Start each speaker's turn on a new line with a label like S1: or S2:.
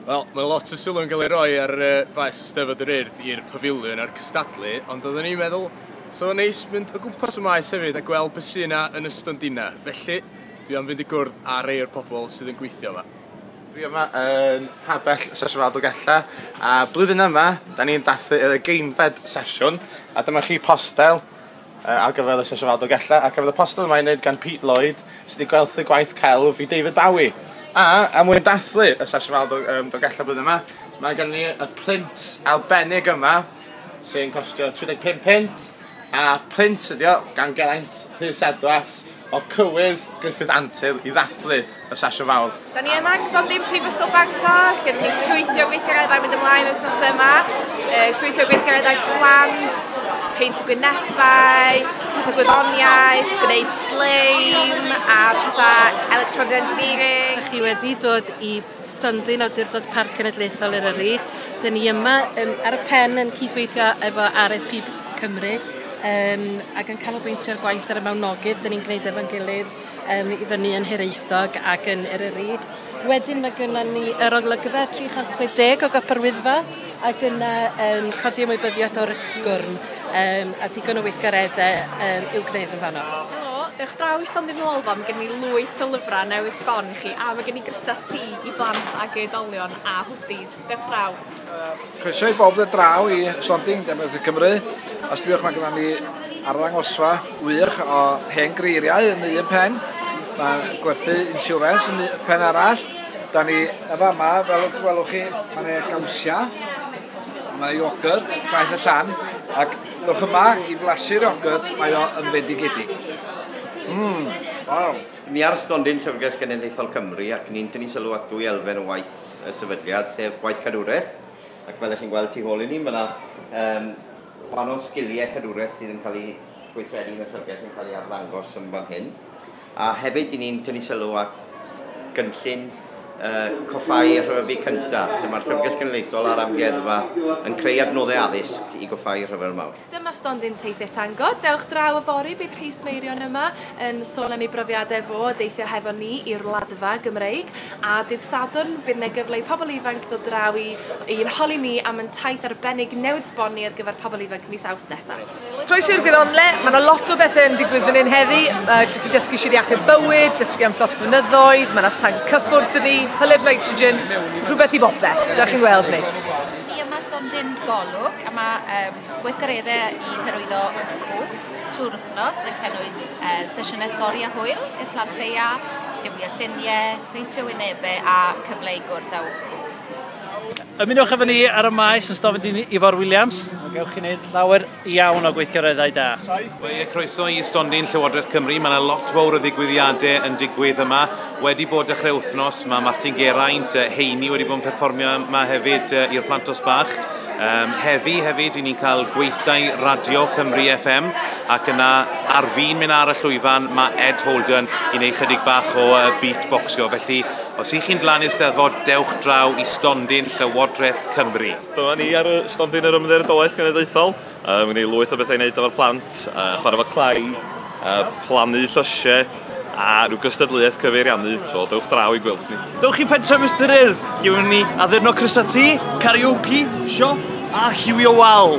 S1: Wel, mae lot o sylw yn cael ei roi ar uh, faes Eisteddfod yr Urdd i'r pafiliwn a'r cystadlu, ond oeddwn i'n meddwl, so o'n neis mynd o gwmpas y maes hefyd a gweld beth sy'n yna yn y stondina. Felly, dwi am fynd i gwrdd â rei o'r pobl sydd yn gweithio yma. Dwi yma yn Pabell Sesiwn Aldogella, a blwyddyn yma, da ni'n dathlu y geinfed sesiwn, a dyma chi postel Ar gyfer y sesiwn Al Dolgellau ac ar gyfer y poster yma ei wneud gan Pete Lloyd, sydd wedi gwerthu gwaith celf i David Bowie. A, er mwyn dathlu y sesiwn Al Dolgellau blwyddyn yma, mae gen ni y print arbennig yma, sy'n costio £35, a print ydi o gan Geraint Rhys Edwards. O'r cywydd, Gruffydd Antur, i ddathlu y sesiwn fawr. Da ni yma ar stondin Prifysgol Bangor, gyda ni llwythi o weithgareddau mynd ymlaen wythnos yma, e, llwythi o weithgareddau plant, peint y gwynebau, pethau gwyddoniaeth, gwneud sleim a pethau electronic engineering. Dych chi wedi dod i Stondin, Awdurdod Parc Cenedlaethol Eryri. Dyn ni yma yn, ar y pen yn cydweithio efo RSP Cymru um, ac yn canolbwyntio'r gwaith ar y mawnogydd dyn ni'n gwneud efo'n gilydd um, i fyny yn Hiraethog ac yn Eryri. Wedyn mae gynnon ni yr olygfa 360 o Gopr Wyddfa ac yna um, codi ymwybyddiaeth o'r ysgwrn um, a digon o weithgareddau um, i'w gwneud yn fanno. Helo, dewch draw i Stondin Lolfa, mae gen i lwyth o lyfrau newydd sbon chi a mae gen i grysau ti i blant ag oedolion a hwdis. Dewch draw. Croeso i bob dod draw i Sonding Democratic Cymru. Os byddwch mae gyda ni arddangosfa wych o hen greiriau yn un pen. Mae gwerthu insurance yn un pen arall. Da ni y fama, fel y gwelwch chi, mae yna gawsiau, mae yna iogurt, ffaith y llan, ac dewch yma i flasu'r iogurt, mae o yn fendigedig. Mmm, waw. Ni ar stondin Llyfrgell Genedlaethol Cymru ac ni'n tynnu sylw at ddwy elfen o waith y sefydliad, sef gwaith cadwraeth, ac fel y'ch chi'n gweld tu hôl i ni ma' 'na yym wahanol sgilie cadwraeth sydd yn cael eu gweithredu yn y Llyfrgell yn cael eu arddangos yn fan hyn, a hefyd 'yn ni'n tynnu sylw at gynllun yy Coffáu a Rhyfeddu Cyntaf, lle ma'r Llyfrgell Genedlaethol a'r Amgueddfa yn creu adnoddau addysg i goffáu rhyfel mawr. Dyma stondin Teithiau Tango. Dewch draw yfory, bydd rhai smeirion yma yn sôn am eu brofiadau fo o deithio hefo ni i'r Wladfa Gymreig, a dydd Sadwrn bydd yna gyfle i pobl ifanc ddod draw i i'n holi ni am yn taith arbennig newydd sbonni ar gyfer pobl ifanc mis Awst nesaf. Croeso i'r Gwyddonle, mae yna lot o bethau yn digwydd fan hyn heddi, mae chi dysgu sir iachub bywyd, dysgu am llosg mynyddoedd, mae yna tanc cyffwrdd dyn ni, hylif nitrogen, rhywbeth i bopeth, da chi'n gweld ni. Fi yma ers am dim golwg a mae um, gweithgareddau i hyrwyddo yn y cwm trwy'r wythnos yn cynnwys uh, sesiynau stori a hwyl i'r plant lleia, lliwio lluniau, peintio wynebau a cyfle i gwrdd â Ymunwch efo ni ar y maes yn Stofyn Dyn Ifor Williams. Gewch chi wneud llawer iawn o gweithgareddau da. Ie, croeso i stondin Llywodraeth Cymru. Mae yna lot fawr o ddigwyddiadau yn digwydd yma. Wedi bod dechrau wythnos, mae Martin Geraint, Heini wedi bod yn perfformio yma hefyd i'r Plantos Bach. Um, heddi hefyd, i ni'n cael gweithdai Radio Cymru FM, ac yna ar fin mynd ar y llwyfan, mae Ed Holden i wneud chydig bach o uh, beatboxio. Felly, os ych chi'n dlan i'r steddfod, dewch draw i stondin Llywodraeth Cymru. Dyma ni ar y stondin yr Ymddiriedolaeth Genedlaethol. Uh, Mae'n ei lwyth o bethau i wneud efo'r plant, uh, chwarae fo clai, uh, plannu llysiau, a rhyw gystadleuaeth cyfeiriannu, so dewch draw i gweld ni. Dewch chi pentref Mr Urdd, lle wnawn ni addurno crysau ti, karaoke, siop a lliwio wal.